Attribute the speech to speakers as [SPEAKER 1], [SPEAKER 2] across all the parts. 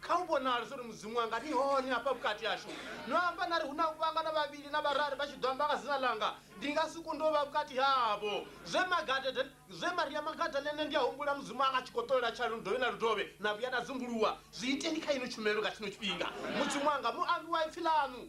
[SPEAKER 1] Kha hu vhonale zwo ri Mudzimu wanga ni hone hafha vhukati hashu. No amba na ri, Hu na u vhangana vhavhili na vhararu vha tshi ḓo amba nga dzina ḽanga, ndi nga si kunde u vha vhukati havho. Zwe Magadada, zwe Maria Magadalene, ndi a humbula Mudzimu wanga a tshi khou ṱolela tsha ludovhi na ludovhi, na vhuya na dzunguluwa. Zwi iteni kha ino tshumelo nga tshino tshifhinga. Mudzimu wanga, muambi wa ipfi ḽaṋu,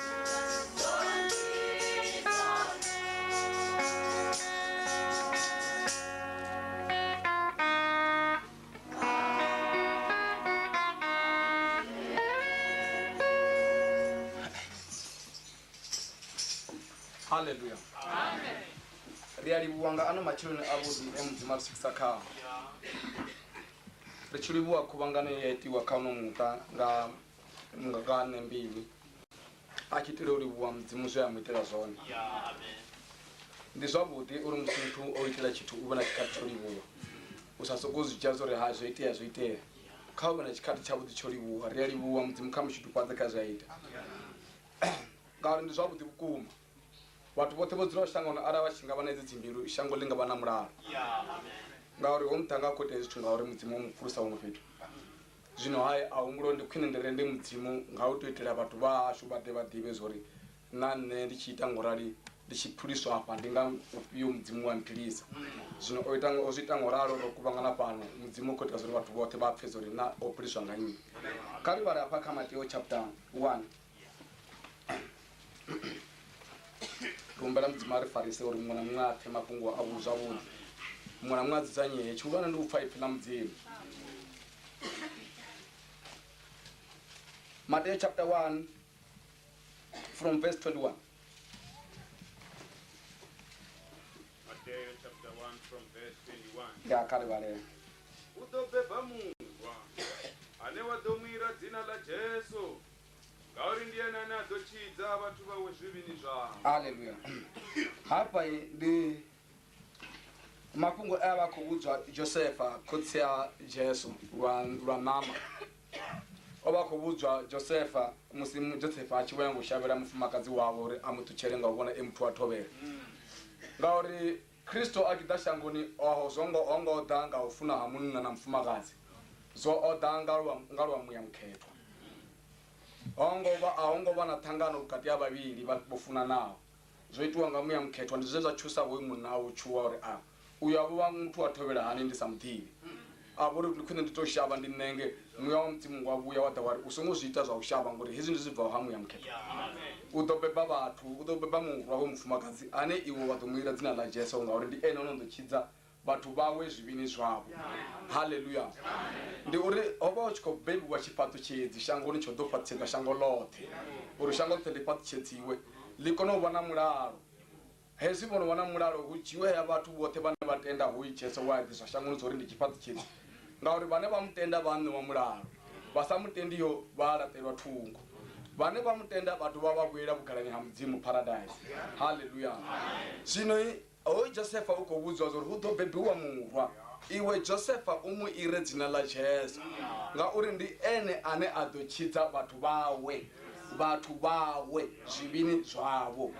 [SPEAKER 2] haleluya ri a livhuwa nga ano matsheloni avhuḓi e mudzimu a ri swikisa khao ri tshi livhuwa khuvhangano ye ya itiwa kha uno muṱa nga mungakane mbilu a tshi itela u livhuwa mudzimu zwe a mu itela zwone
[SPEAKER 1] ndi zwavhuḓi
[SPEAKER 2] uri musi muthu o itela tshithu u vhe na tshikhathi tsho livhuwa u sa sokou zwi dzhia zwo ri ha zwo itea zwo itea kha u vhe na tshikhathi tshavhuḓi tsho livhuwa ri a livhuwa mudzimu kha mushudufhadze kha zwi a ita ngauri ndi zwavhuḓi vhukuma vhathu vhoṱhe vho dzulaho shangoni arali vha tshi nga vha na edzi dzimbilu shango ḽi nga vha na mulalo
[SPEAKER 1] ngauri ho muḓa nga
[SPEAKER 2] khou itea zwithu ngauri mudzimu o mu pfulusa huṅwe fhethu Zwino ha ahumbulo ndi khwine ndi rende Mudzimu nga u tou itela vhathu vha hashu vha ḓe vha ḓivhe zwo ri na nṋe ndi tshi ita ngo rali ndi tshi phuliswa afha ndi nga ufhio Mudzimu wa mphilisa. Zwino o ita o zwi ita ngo ralo ro kuvhangana fhano Mudzimu u khou ita zwo ri vhathu vhoṱhe vha pfe zwo ri na o phuliswa nga nnyi. Kha ri vhale hafha kha Mateo chapter 1 rumbela mudzimu a ri farise uri muṅwe na muṅwe a pfe mafhungo a vhu zwavhuḓi muṅwe na muṅwe a dzudzanyee tshihulwane ndi u pfa ipfi ḽa mudzimu Matthew chapter 1 from verse 21. Mateo
[SPEAKER 3] chapter 1 from verse 21. Ya kale vhalela.
[SPEAKER 2] U ḓo beba
[SPEAKER 3] murwa ane wa ḓo mu ira dzina ḽa Jesu. Ngauri ndi ene ane a ḓo tshidza vhathu vhawe zwivhini zwavho.
[SPEAKER 2] haleluya hafha i ndi mafhungo e a vha a khou vhudzwa josefa khotsi a jesu lwa lwa ṋama o vha a khou vhudzwa josefa musi mu- josefa a tshi vhoya ngo shavhela mufumakadzi wawe uri a mu ṱutshele nga u vhona e muthu wa thovhela ngauri Kristo a tshi ḓa shangoni, oho zwo ngo, ho ngo ḓa nga u funa ha munna na mufumakadzi, zwo o ḓa nga lwa, nga lwa Muya Mukhethwa. Ho ngo vha, a ho ngo vha na ṱhangano vhukati ha vhavhili vha, vho funanaho. Zwo itiwa nga Muya Mukhethwa. Ndi zwe zwa tshusa hoyu munna a u tshuwa uri, A, uyo a vho vha muthu wa thovhela hani ndi sa mu ḓivhi? A vho ri, Ndi khwine ndi tou shavha ndi ṋenge. Muya wa Mudzimu wa vhuya wa ḓa wa ri, U songo zwi ita zwa u shavha, ngauri hezwi ndi zwi bvaho ha Muya Mukhethwa. U ḓo beba vhathu, u ḓo beba murwa wa mufumakadzi, ane iwe wa ḓo mu ila dzina ḽa Jesu, ngauri ndi ene o no ḓo tshidza vhathu vhawe zwivhini zwavho. Haleluya! Ndi uri ho vha hu tshi khou bebiwa tshifhaṱutshedzi shangoni tsho ḓo fhaṱutshedza shango ḽoṱhe, uri shango ḽoṱhe ḽi fhaṱutshedziwe, ḽi kone u vha na mulalo. Hezwi vho no wana mulalo, hu dzhiiwe haya vhathu vhoṱhe vhane vha tenda hu Jesu we a ḓiswa shangoni zwo ri ndi tshifhaṱi tshitsu, ngauri vhane vha mu tenda vha a ṋewa mulalo, vha sa mu tendiho vha a laṱelwa thungo, vhane vha mu tenda vha dovha vha vhuela vhugalani ha Mudzimu, Paradise. Haleluya! Zwino hoyu Josefa u khou vhudziwa zwa uri hu ḓo bebiwa murwa, iwe Josefa u mu ire dzina ḽa Jesu, ngauri ndi ene ane a ḓo tshidza vhathu vhawe. vhathu vhawe zwivhini zwavho.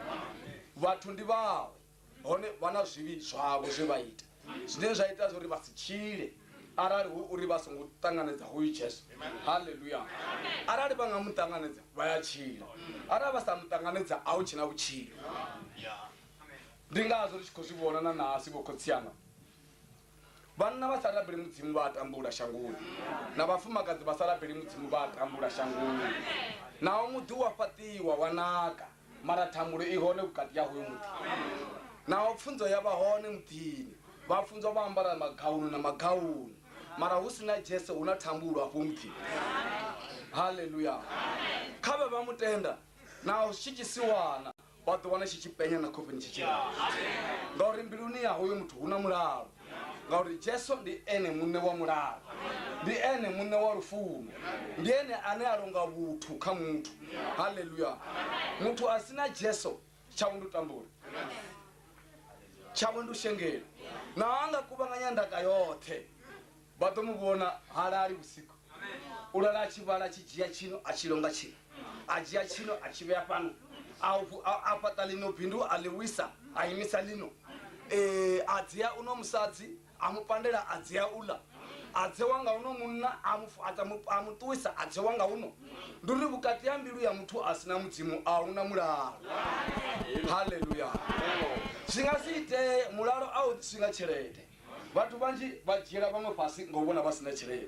[SPEAKER 2] Vhathu ndi vhawe, hone vha na zwivhi zwavho zwe vha ita, zwine zwa ita zwauri vha si tshile arali hu uri vha songo ṱanganedza hoyu Jesu. Haleluya! Arali vha nga mu ṱanganedza, vha ya tshila. Arali vha sa mu ṱanganedza, a hu tshena vhutshilo. Ndi ngazwo ri tshi khou zwi vhona na nahasi, vhokhotsi anga. Vhanna vha sa rabeli Mudzimu vha a tambula shangoni, na vhafumakadzi vha sa rabeli Mudzimu vha a tambula shangoni. Naho muḓi wa fhaṱiwa wa naka, mara thambulo i hone vhukati ha hoyo muḓi. Naho pfunzo ya vha hone muḓini, vhafunzwa vha ambara magaunu na magaunu, mara hu si na Jesu hu na thambulo afho muḓini. Haleluya! Kha vhe vha mu tenda naho zwi tshi tsiwana. wa ḓi wana tshi tshi penya na khofheni tshi tshi ngauri mbiluni ya hoyo muthu hu na mulalo ngauri jesu ndi ene muṋe wa mulalo ndi ene muṋe wa lufuno ndi ene ane a longa vhuthu kha muthu halleluya muthu a si na jesu tshawe ndi u tambula tshawe ndi u shengela na anga kuvhanganya ndaka yoṱhe Vha ḓo mu vhona, ha lali vhusiku. U lala a tshi vhala, a tshi dzhia tshino, a tshi longa tshino. A dzhia tshino, a tshi vhea fhano. A, a, a fhaṱa ḽino bindu, a ḽi wisa, a imisa ḽino. Ee, a dzea uno musadzi, a mu pandela, a dzea uḽa. A dzewa nga uno munna, a mu, a, mu, a mu ṱuwisa, a dzewa nga uno. Ndi uri vhukati ha mbilu ya muthu a si na Mudzimu a hu na mulalo. Haleluya! Zwi nga si itee, mulalo a u ḓiswi nga tshelede. vhathu vhanzhi vha dzhiela vhaṅwe fhasi nga u vhona vha si na tshelede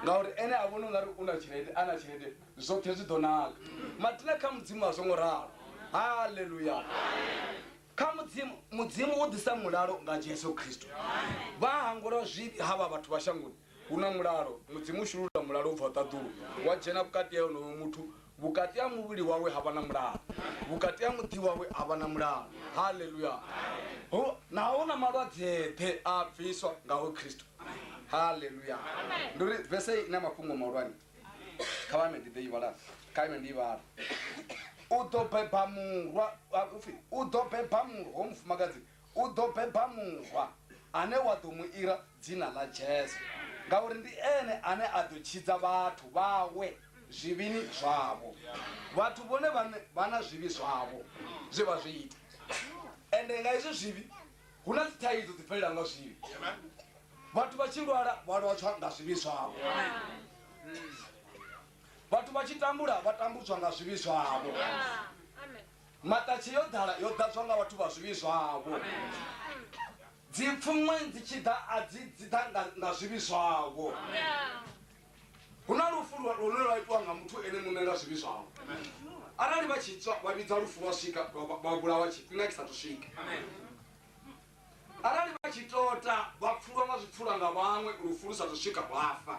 [SPEAKER 2] ngauri ene a vhona ungari u na tshelede a na tshelede zwoṱhe zwi ḓo naka matina kha mudzimu a zwo ngo ralo haleluya kha mudzimu mudzimu u ḓisa mulalo nga jesu khristo vha hangula zwivhi ha vha vhathu vha shangoni Hu na mulalo. Mudzimu u shulula mulalo u bvaho ṱaḓulu, wa dzhena vhukati ha onoyo muthu. Vhukati ha muvhili wawe ha vha na mulalo. Vhukati ha muḓi wawe ha vha na mulalo. Haleluya! Hu, na, hu na malwadze-ḓe a a bviswa nga hoyu Kristo. Haleluya! Ndi uri vese hei i na mafhungo mahulwane. Kha vha ime ndi ḓo i vhala. Kha ime ndi i vhala. U ḓo beba murwa, a, u pfi, u ḓo beba murwa, hoyu mufumakadzi U ḓo beba murwa ane wa ḓo mu ira dzina ḽa Jesu, ngauri ndi ene ane a ḓo tshidza vhathu vhawe zwivhini zwavho. Vhathu vhone vhaṋe vha na zwivhi zwavho zwe vha zwi ita, ende nga izwo zwivhi hu na dzithaidzo dzi bvelela nga zwivhi. Vhathu vha tshi lwala vha lwatshwa nga zwivhi zwavho. Vhathu vha tshi tambula vha tambudzwa nga zwivhi zwavho. Maṱatshe yo ḓala, yo ḓadzwa nga vhathu vha zwivhi zwavho. Dzipfuṅwe dzi tshi ḓa, a dzi, dzi ḓa nga, nga zwivhi zwavho. Hu na lufu lwa, lune lwa itwa nga muthu ene muṋe nga zwivhi zwawe. Arali vha tshi tswa, vha vhidza lufu lwa swika, lwa, vha vhulawa tshifhinga tshi sa thu swika. Arali vha tshi tota vha pfulwa nga zwipfulwa nga vhaṅwe, lufu lu sa thu swika vha fa.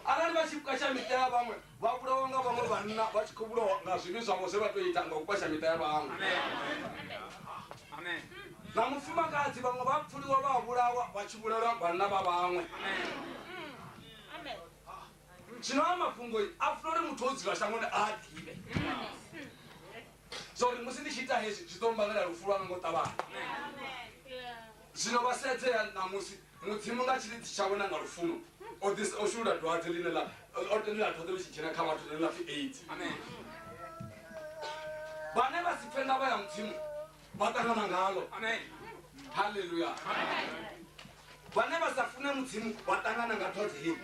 [SPEAKER 2] Arali vha tshi kwasha miṱa ya vhaṅwe, vha vhulawa nga vhaṅwe vhanna vha tshi khou vhulawa nga zwivhi zwavho zwe vha tou ita nga u kwasha miṱa ya vhaṅwe. Na mufumakadzi vhaṅwe vha pfuliwa vha vhulawa vha tshi vhulelwa vhanna vha vhaṅwe. Zwino a mafhungo a funa uri muthu o dzula shangoni a a ḓivhe. zwa uri musi ndi tshi ita hezwi zwi ḓo mbangela lufu lwanga ngo ṱavhanya zwino vha sedzea ṋamusi mudzimu nga tshilidzi tshawe na nga lufuno o ḓisa o shulula dwadze ḽine ḽa o tendela dwadze ḽi tshi dzhena kha vhathu ḽine ḽa pfhi aids vhane vha si pfe ndavha ya mudzimu vha ṱangana ngalo halleluya vhane vha sa fune mudzimu vha ṱangana nga dwadze hei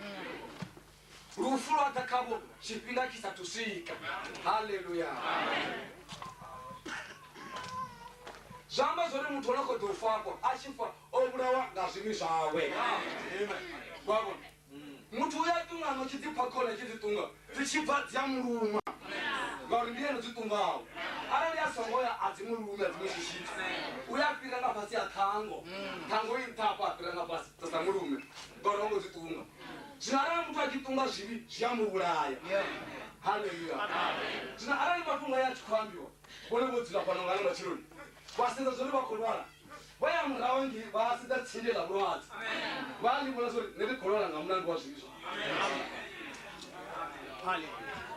[SPEAKER 2] lufu lwa ḓa khavho tshifhinga tshi sathu swika halleluya zwi amba zwori muthu ono kho ḓo fafho a tshi fa o vhulawa nga zwimi zwawe wavho muthu uya ṱungano tshi ḓipfa khona tshi ḓiṱunga dzi tshi bva dzi a muluma ngauri ndi ene dzi ṱungaho arali a songo ya a dzi mulumi a dzi mushushisa uya fhira nga fhasi a ṱhango ṱhango i nṱhafha a fhira nga fhasi dza sa mulume ngori ho ngo dzi ṱunga zwino arali muthu a tshi ṱunga zwivhi zwi a mu vhulaya haleluya zwino arali mafhungo ya a tshi khou ambiwa vhone vho dzula fhano ngana matshiloni vha sedza zwori vha khou lwala vha ya muraho ngi vha sedza tsinde ḽa vhulwadze vha ḽi vhona zwori nṋe ndi khou lwala nga mulandu wa zwivhi zwa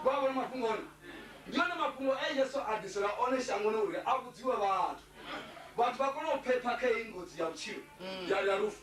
[SPEAKER 2] vha vhona mafhungo one ndi one mafhungo e yesu a ḓisela one shangoni uri a vhudziwe vhathu vhathu vha kone u phepha kha heyi ngozi ya vhutshilo ya ya lufu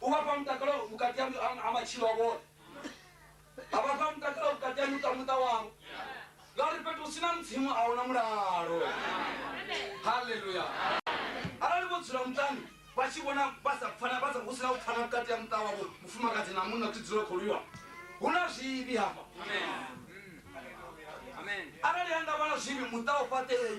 [SPEAKER 2] uvapa mutakalo mukati ya amachilo avo avapa mutakalo mukati ya nyuka muta wavo ngauri fhethu usina mudzimu ahuna mulalo haleluya arali vho dzula mutani vha tshi vhona vha sa pfana vha sa hu sina u pfana vhukati ya muṱa wavho mufumakadzi na munna kuti dzula kholiwa hu na zwivhi hafha arali ha nga vha na zwivhi muṱa u fhaṱei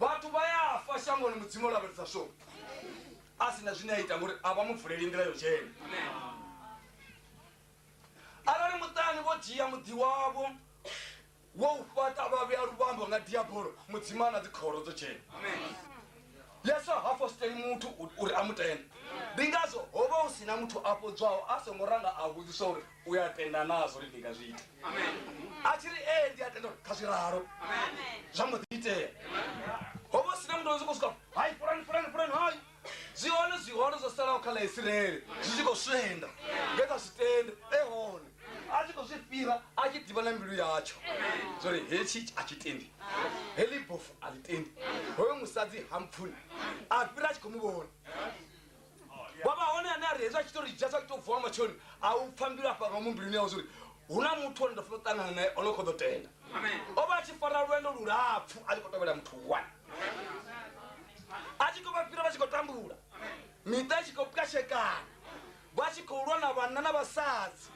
[SPEAKER 2] Vhathu vha ya fa shangoni Mudzimu o lavhelesa sho a si na zwine a ita ngori a vha mu vuleli nḓila yo dzhena. Arali muṱani vho dzhia muḓi wavho wo u fhaṱa vha vhea luvhambo nga diabolo, Mudzimu a na dzikhoro dzo dzhena. Yesu ha fositeli muthu uri a mu tende. Ndi ngazwo ho vha hu si na muthu a fhodzwaho a songo ranga a vhudziswa uri u ya tenda nazwo uri ndi nga zwi ita a tshi ri ee ndi a tenda uri kha zwi ralo zwa mbo ḓi itea ho vha sina muthu zwi khou swika hai furani furani furani hai zwi hone zwi hone zwo salaho kha ḽa isiraele zwi tshi khou swenda nge kha zwi tende e hone a tshi khou zwi fhira a tshi ḓivha na mbilu yatsho zwori hetshi a tshi tendi heḽi bofu a ḽi tendi hoyo musadzi ha mpfuni a fhira a tshi khou mu vhona wa vha hone ane a ri hezwi a tshi to ri dzhia sa tshi to vuwa nga matsheloni a u pfa mbilu afha nga mumbuluni yawe zwori hu na muthu one ndo funa u ṱangana naye ono kho ḓo tenda o vha a tshi fara lwendo lulapfu a tshi khou tovhela muthu one a tshi khou vha fhira vha tshi khou tambula miṱa i tshi khou pwashekana vha tshi khou lwa na vhanna na vhasadzi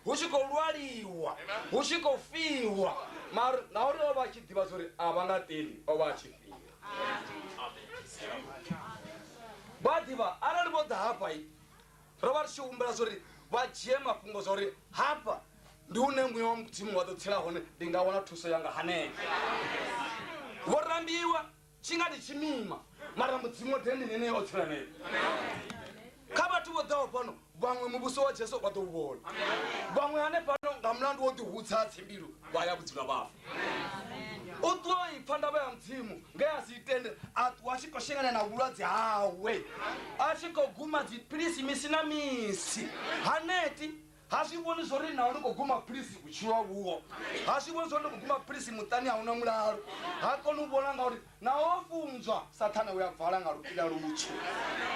[SPEAKER 2] hu tshi khou lwaliwa hu tshi khou fiwa mara na uri o vha a tshi ḓivha zwori a vha nga teli o vha a tshi fira vha ḓivha arali vho ḓa hafha ro vha ri tshi humbela zwori vha dzhie mafhungo zwa uri hafha ndi hune muya wa mudzimu wa ḓo tsela hone ndi nga wana thuso yanga hanea vho rambiwa tshi nga ndi tshimima mara mudzimu wa dende nenei o tsela nene kha vhathu vho ḓaho fhano vhaṅwe muvhuso wa jesu vha ḓo u vhona vhaṅwe hanefhano nga mulandu wo ḓihudza ha tsimbilu vha ya vhudzima vhafa u ṱuwa o ipfa ndavha ya mudzimu nge a si itende a ṱuwa a tshi khou shengana na vhulwadze hawe a tshi khou guma dziphilisi misi na misi haneti Ha zwi vhoni zwo ri naho ni khou guma philisi vhutshilo a vhuho. Ha zwi vhoni zwo ri ni khou guma philisi muṱani a hu na mulalo. Ha koni u vhona ngauri naho ho funzwa, Sathane u a vala nga lupiḽa lutswu,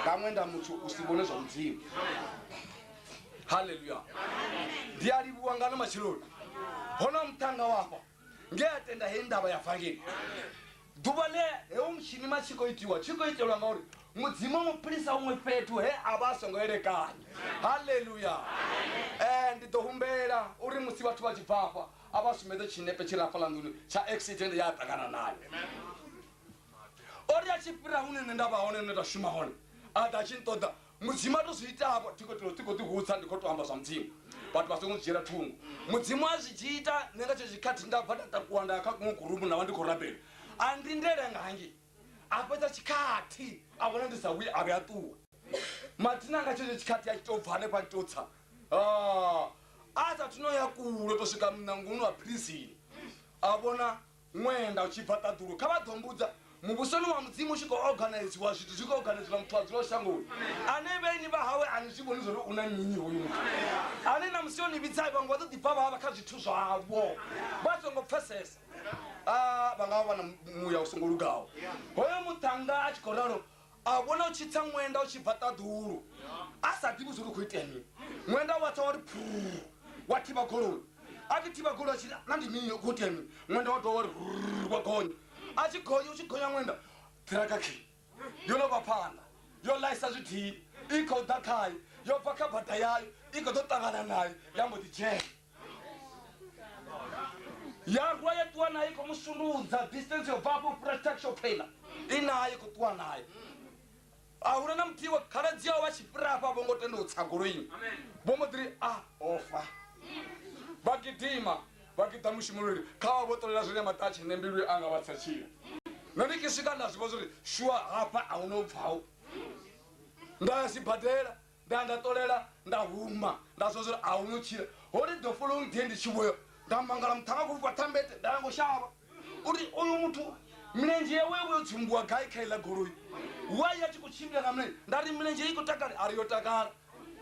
[SPEAKER 2] nga ṅwenda mutswu u si vhone zwa Mudzimu. Haleluya! Ndi a livhuwa ngano matsheloni. Ho na muṱhannga wa afha. nge a tenda hei ndavha ya vangeli ḓuvha ḽe heu mushinima tshi khou itiwa tshi khou itelwa ngauri mudzimu mu philisa huṅwe fhethu he a vha a songo elekanya halleluya um eh, ndi ḓo humbela uri musi vhathu vha tshi bvafha a vha sumbedze tshinepe tshi rafha ḽa nḓuni tsha accident ya a ṱangana nayo ori a tshi fhira hune nṋe nda vha hone nṋe nda shuma hone a ḓa tshi nṱoḓa mudzimu a to zwi itavho ti khou ḓihudza ndi khou to amba zwa mudzimu vhathu vha songo dzhiela thungo mudzimu a zwi dzhi ita nṋe nga tsho tshikhathi nda bva nda takuwa nda ya kha kuṅwe gurumu nda vha ndi khou rabela a ndi ndele nga hangi a fhedza tshikhathi a vhona ndi sa vhuyi a vhe a ṱuwa mathina nga tshetsho tshikhathi a tshi to bva hanefha a tshi to tsa ah, a sa thuno ya kulo to swika muṋangoni wa philizini a vhona Ṅwenda u tshi bva ṱaḓulu, kha vha ḓo mbudza. Muvhusoni wa Mudzimu u tshi khou oganaiziwa, zwithu zwi khou oganaiziwa, muthu a dzulaho shangoni, ane vhaeni vha hawe a ni zwi vhoni zwa uri u na mini hoyu muthu, ane na musi o ni vhidza vhaṅwe vha ḓo ḓi bva vha vha kha zwithu zwavho vha songo pfesesa, a vha nga vha vha na muya u songo lugaho. Hoyo muṱhannga a tshi khou ralo a vhona u tshi tsa ṅwenda u tshi bva ṱaḓulu a sa ḓivhi zwo ri khou itea mini ṅwenda wa tsa wa ri phuu wa thivha goloi a tshi thivha goloi a tshi na ndi mini khou itea mini ṅwenda wa dovha wa ri rrrr wa gonya a tshi gonya u tshi gonya ṅwenda ṱiraka khi yo no vha phanḓa yo ḽaisa zwidini i khou ḓa khayo yo bva kha bada yayo i khou ḓo ṱangana nayo ya mbo ḓi dzhena ya rwa ya ṱuwa nayo khou mu sundudza distance yo bvafho fhura taxo paina i nayo khou ṱuwa nayo a huna na muthihi wa khaladzi yao vha tshi fhira afha vho ngo tenda u tsa goloini vho mbo ḓiri a ofa vha gidima vha giḓa mushumululi kha vha vho ṱolela zwine maṱatshi ne mbilu anga vha tsatshila nṋe ndi ki swika nda zwi vha zwori shuwa hafha a huna u bvaho nda ya sibadela Nda nga ṱolela nda huma nda zwa zwori a hu no tshila hone the following day ndi tshi vhoyo nda mangala muṱhanga a khou fhufha thambete nda yango shavha uri uyu muthu milenzhe yawe yo vho yo tsumbuwa gai kha iḽa goloi wai a tshi khou tshimbila nga milenzhe nda ri milenzhe i khou takale a ri yo takala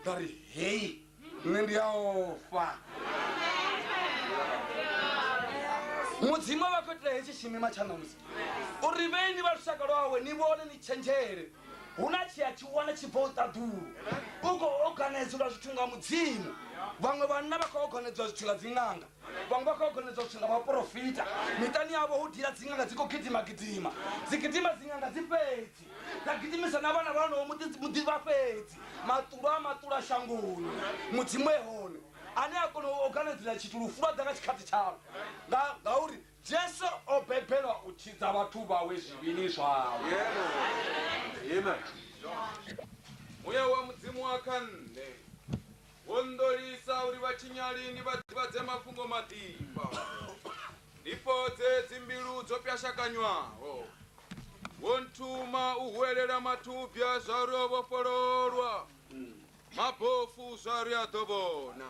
[SPEAKER 2] nda ri hei nṋe ndi a ofha mudzimu a vha khou itela hetshi tshimima tsha ṋamusi uri vheini vha lushaka lwawe ni vhone ni tshenzhele hu na tshia tshihulwane tshi bvaho ṱaḓulu u khou oganedzulwa zwithu nga mudzimu vhaṅwe vhanna vha khou oganedzwa zwithu nga dziṅanga vhaṅwe vha khou oganedzwa zwithu nga vhaporofita miṱani yavho hu dila dziṅanga dzi khou gidima gidima dzi gidima dziṅanga dzi fhedzi dza gidimisa na vhana vhanoho muḓi vha fhedzi maṱulo a maṱulo a shangoni mudzimu e hone ane a kona u oganedzela tshithu lufu lwa ḓa nga tshikhathi tshawe ngauri Jesu o bebelwa u tshidza vhathu vhawe zwivhini zwavho.
[SPEAKER 3] Muya wa Mudzimu wa kha nṋe, wo nḓolisa uri vhatshinyali ndi vha ḓivhadze mafhungo maḓifha, ndi fhodze dzimbilu dzo pwashakanywaho. Wo nthuma u huwelela mathubya zwauri o vhofhololwa, mabofu zwauri a ḓo vhona,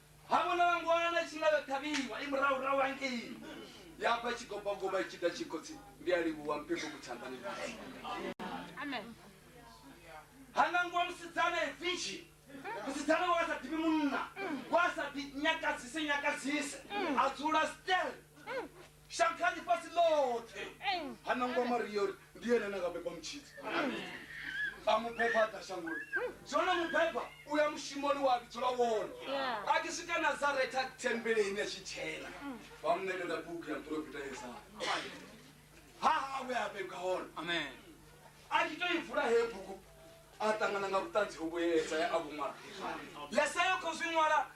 [SPEAKER 2] Ha vhonala ngwana tshi nga vha ṱhavhiwa i murahurahu hangei. Ya bva tshigobagoba i tshi ḓa tshi khotsi ndi a livhuwa mphepo ku tshanḓani khotsi. Ha nangiwa musidzana e virgin. Musidzana we a sa ḓivhi munna, we a sa ḓi nyakadzise nyakadzise, a dzula stel. Shangani fhasi ḽoṱhe ha nangwa Maria uri ndi yene ane a nga beba mutshidzi. A mu beba a ḓa shangoni. Zwino no mu beba u ya mushumoni wa vhidzwa lwa wone. A tshi swika Nazaretha thembeleni a tshi dzhena vha mu ṋekedza bugu ya muporofita Yesaya. Ha hawe a vhebwa hone. Amen. A tshi tou i vula heyo bugu a ṱangana nga vhuṱanzi hovhu he Yesaya a vhu ṅwala. Yesaya u khou zwi ṅwala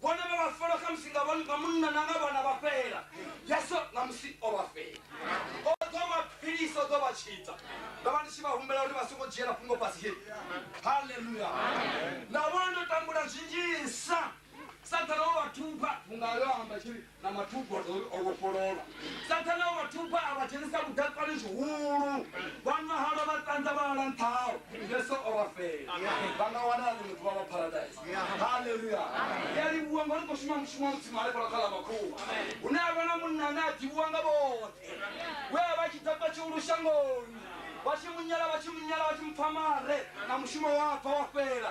[SPEAKER 2] Vhone vha vha fola khamusi nga vhone nga munna na nga vhana vha fhela. Yesu ṋamusi o vha fhela. O ḓo vha philisa, o ḓo vha tshidza. Ndo vha ndi tshi vha humbela uri vha songo dzhiela fhungo fhasi he. Haleluya! Na vhona ndo tambula zwinzhisa. Saṱhane o vha thuba vhunga yo amba tshi ri, na mathuba o vhofholola sathana o vhathuba a vha dzhenisa vhuḓatsani zwihulu vha nwa halwa vha ṱanza vha hala nṱhao yesu o vha fela vha nga wana na ḽiṅwe ḓuvha vha paradise haleluya ndi a livhuwa ngori khou shuma mushumo mutsima ale fhala kha ḽa makhuwa hune a vha na munna ane a ḓivhiwa nga vhoṱhe we a vha tshi ḓakwa tshihulu shangoni vha tshi munyala vha tshi munyala vha tshi mpfamare na mushumo wa bva wa fhela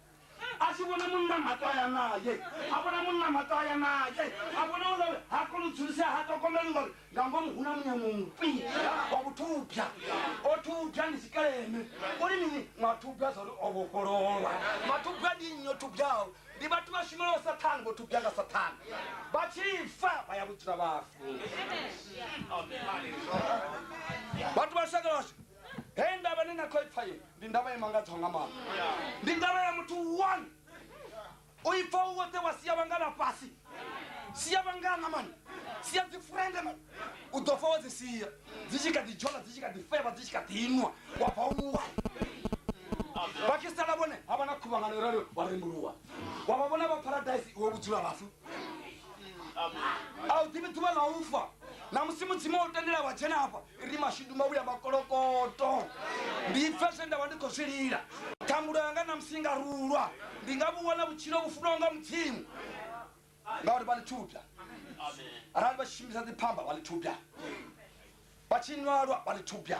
[SPEAKER 2] a tshi vhona munna mato a ya naye a vhona munna mato a ya naye a vhona u ngauri ha koni u dzulisea ha ṱhogomeli ngauri nga ngomu hu na munyamomufhi wa vhuthubya o thubya ndi tshikeleme uri mini mathubya zwa uri o vhofhololwa mathubya ndi nnyi o thubyaho ndi vhathu vha shumelaho sathane vho thubya nga sathane vha tshi fa vha ya vhudzula vhafu vhathu vha lushaka lwashu Hei ndavha ni na khoipfa ye ndi ndavha ye mangadzaho nga maanḓa. Ndi ndavha ya muthu one. O ipfa u woṱhe wa sia vhangana fhasi. Sia vhangana mani. Sia dzi friend mani. U ḓo fa wa dzi sia. Dzi tshi kha ḓi dzhola dzi tshi kha ḓi fevha dzi tshi kha ḓi nwa wa bva u nwa. Vha tshi sala vhone ha vha na khuvhangano rali wa rembuluwa. Wa vha vhona vha paradise iwe vhudzula vhafu. A u ḓivhi ḓuvha ḽa ufa. Na musi mudzimu o tendela wa dzhena hafha ri mashudu mavhu ya makolokoto ndi pfe zwe nda vha ndi khou zwi lila ṱhangulo yanga na musi nga rulwa ndi nga vhu wana vhutshilo vhu funwaho nga mudzimu ngauri vha ḽithubya arali vha tshi shumisa dziphamba vha ḽithubya vha tshi nwalwa vha ḽithubya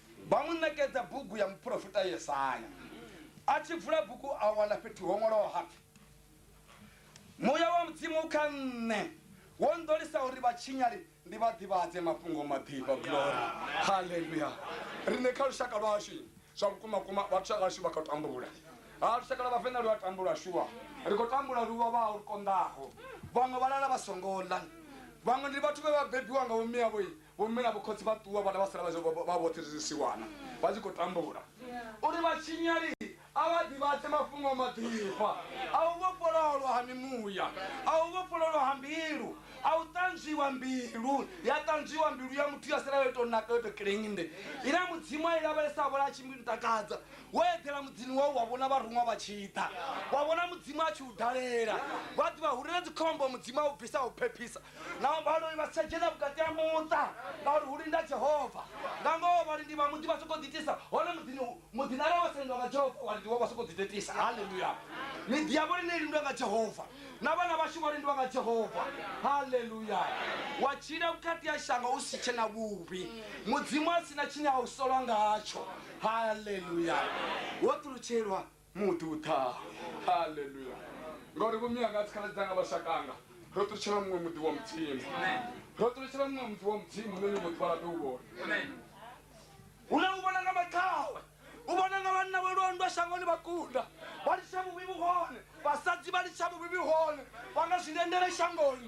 [SPEAKER 2] Vha mu ṋekedza bugu ya muporofita Yesaya. A tshi vula bugu a wana fhethu ho ṅwalwaho ha pfi, Muya wa Mudzimu u kha nṋe, wo nḓolisa uri vhatshinyali ndi vha ḓivhadze mafhungo maḓifha. Glory! Haleluya! Riṋe kha lushaka lwashu zwa vhukuma kuma vhathu vha vhashu vha khou tambula. Ha lushaka lwa Vhavenḓa lu a tambula shuwa. Ri khou tambula lu vhavhaho lu konḓaho. Vhaṅwe vha lala vha songo ḽa. Vhaṅwe ndi vhathu vhe vha bebiwa nga vhomme avho Vhomme na vhokhotsi vha ṱuwa vhana vha sala vha zwo vha vhoṱhe zwi zwisiwana vha tshi khou tambula. Uri vhatshinyali a vha ḓivhadze mafhungo a maḓifha a u vhofhololwa ha mimuya, a u vhofhololwa ha mbilu, a u ṱanzwiwa mbilu, ya ṱanzwiwa mbilu ya muthu ya sala yo tou naka yo tou kiḽeinde ine Mudzimu a i lavhelesa a vhona a tshi mbi ntakadza. Wo eḓela muḓini wau wa vhona vharuṅwa vha tshi ḓa, wa vhona Mudzimu a tshi u dalela, vha ḓivha uri na dzikhombo Mudzimu a u bvisa a u phephisa. nao vhaloi vha si tsha dzhena vhukati ha muṱa ngauri hu linda jehova nga ngoho vhalindi vha muḓi vha sokou ḓitisa hone muḓini muḓini arali wa sa lindwa nga jehova vhalindi vho vha sokou ḓitetisa halleluya miḓi yavho line lindwa nga jehova na vhana vhashu vha lindwa nga jehova halleluya wa tshila vhukati ha shango u si tshe na vhuvhi mudzimu a si na tshine a u solwa ngatsho halleluya wo ṱulutshelwa muḓi u ḓaho haleluya ngauri vho mianga dzikhala dzanga vhashakanga ro ṱutshela muṅwe muḓi wa mudzimu ro ṱutshela muṅwe muḓi wa mudzimu nṋe nyongo ḓuvha ḽa ḓo u vhona hune u vhona nga maṱhawe u vhona nga vhanna vho londwa shangoni vha kunda vha litsha vhuvhi vhu hone vhasadzi vha litsha vhuvhi vhu hone vha nga zwi lendele shangoni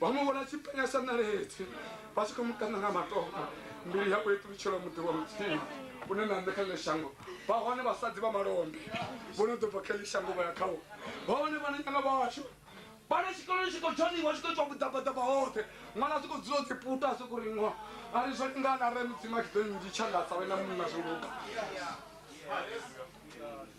[SPEAKER 2] vha mu vhona tshipenya sa ṋaledzi vha tshi khou mu kaṋa nga matombo mbilu yavho i ṱulutshela muḓi wa mudzimu une na nṋe kha ḽe shango vha hone vhasadzi vha malombe vho no ḓo bva kha ḽi shango vha ya khawo vha hone vhana nyana vhashu vhana tshikoloni tshi khou dzhoniwa tshi khou itiwa vhuḓabaḓaba hoṱhe ṅwana zwi khou dzula o ḓiputa a sokou riṅwa a ri zwo lingana re mudzimu a tshi ḓo nnzhi tshangatsa wena munna zwo luga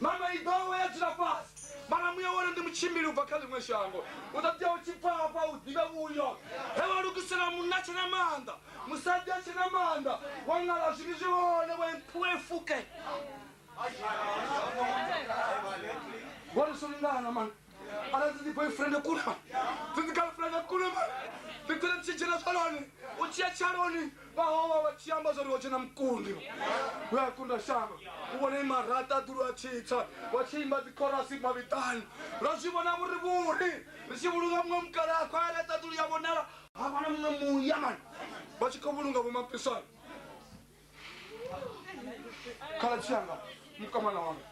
[SPEAKER 2] Mama i ḓo we ya dzula fhasi. Mara muya wone ndi mutshimbili u bva kha ḽiṅwe shango. U ḓo tea u tshi pfa hafha u ḓivhe vhuyo. He wa lugisela munna tshe na maanḓa, musadzi a tshe na maanḓa, wa ṅala zwivhi zwi hone, wa iphuwa i fuke. Vho ri sungana mani. arali ndi boyfriend kulema ndi girlfriend kulema ndi tele tshitshena zvaloni u tshiya tshaloni vhahowa vha tshi amba zwori ho tshena mukundi u ya kunda shango u vhone marata dulu a tshitsa wa tshi imba dzikhorasi mavhiṱani ra zwi vhona vhuri vhuri ri tshi vhulunga muṅwe mukala a khwaya laṱa dulu ya vhonala ha vhana muṅwe muya mani vha tshi khou vhulunga vhomapisana khala tshianga mukamana wanga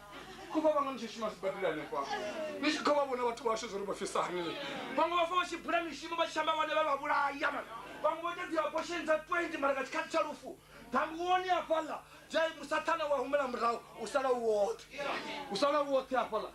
[SPEAKER 2] ko vha vhanga ni tshi shuma sibadela hanefha ni tshi kha vha vhona vhathu vhashu zwo ri vha fisa hani vhaṅwe vha fa vha tshi bula mishumo vha tshi amba vhane vha vha vhulaya mara vhaṅwe vho ita dzi abortion dza 20 mara nga tshikhathi tsha lufu ḓambuwoni hafhaḽa dzai musathana wa humela murahu u sala u woṱhe u sala u woṱhe hafhaḽa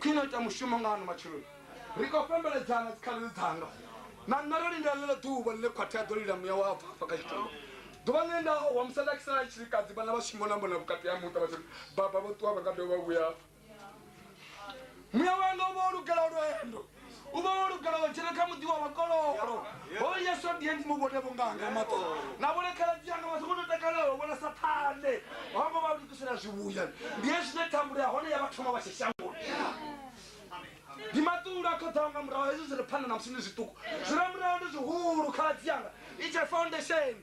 [SPEAKER 2] khwine ita mushumo nga ano matshiloni ri khou fhembeledzana dzikhalelo dzanga na nṋe ro lindela ḽeḽo ḓuvha ḽine khwathi a ḓo lila muya wa bvafa kha tshitulo ḓuvha ḽine nda wa musala kisala tshilikadzi vhana vha shimona mbona vhukati ha muṱa vhathu baba vho ṱuwa vha nga dovha vha vhuya muya wanga u vha o lugela lwendo u vha wo lugela wa dzhena kha muḓi wa vhakololo o yesu ndi ndi mu vhone vhunganga maṱo na vhone khaladzi yanga vha songo to takalela u vhona sathane hongo vha lugisela zwivhuya ndi ye zwine thambulo ya hone ya vha thoma vha tshi shangoni ndi maṱulo a khoḓaho nga murahu hezwi zwi re phanḓa na musi ndi zwiṱuku zwi re murahu ndi zwihulu khaladzi yanga i tshe foundation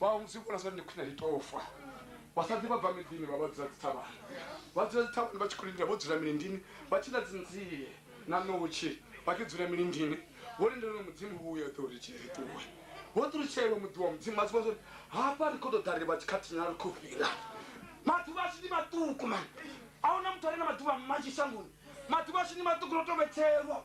[SPEAKER 2] vha vha musi vhona zwari ndi khwine ri tou fa vhasadzi vha bva miḓini vha vha dzula dzithavhani vha dzula dzithavhani vha tshi khou lindela vho dzula milindini vha tshi ḽa dzinzie na ṋotshi vha tshi dzula milindini vho lindela uri mudzimu vhuye ḓe uri tshee ri ṱuwe vho ṱulutshelwa muḓi wa mudzimu vhathu vha zwori hafha ri khou tou ḓa ri vha tshikhathinyana ri khou fhila maḓuvha ashu ndi maṱuku mani a huna muthu a re na maḓuvha manzhi shangoni maḓuvha ashu ndi maṱuku ro tou vhetshelwa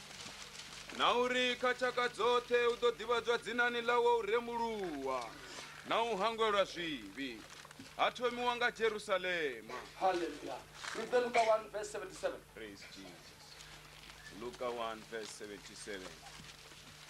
[SPEAKER 3] na uri kha tshaka dzoṱhe u ḓo ḓivhadzwa dzinani ḽawe u rembuluwa na u hangwelwa zwivhi ha thomiwa nga jerusalema Hallelujah. Read the Luke 1, verse
[SPEAKER 2] 77. Praise Jesus. Luka 1 verse
[SPEAKER 3] 77.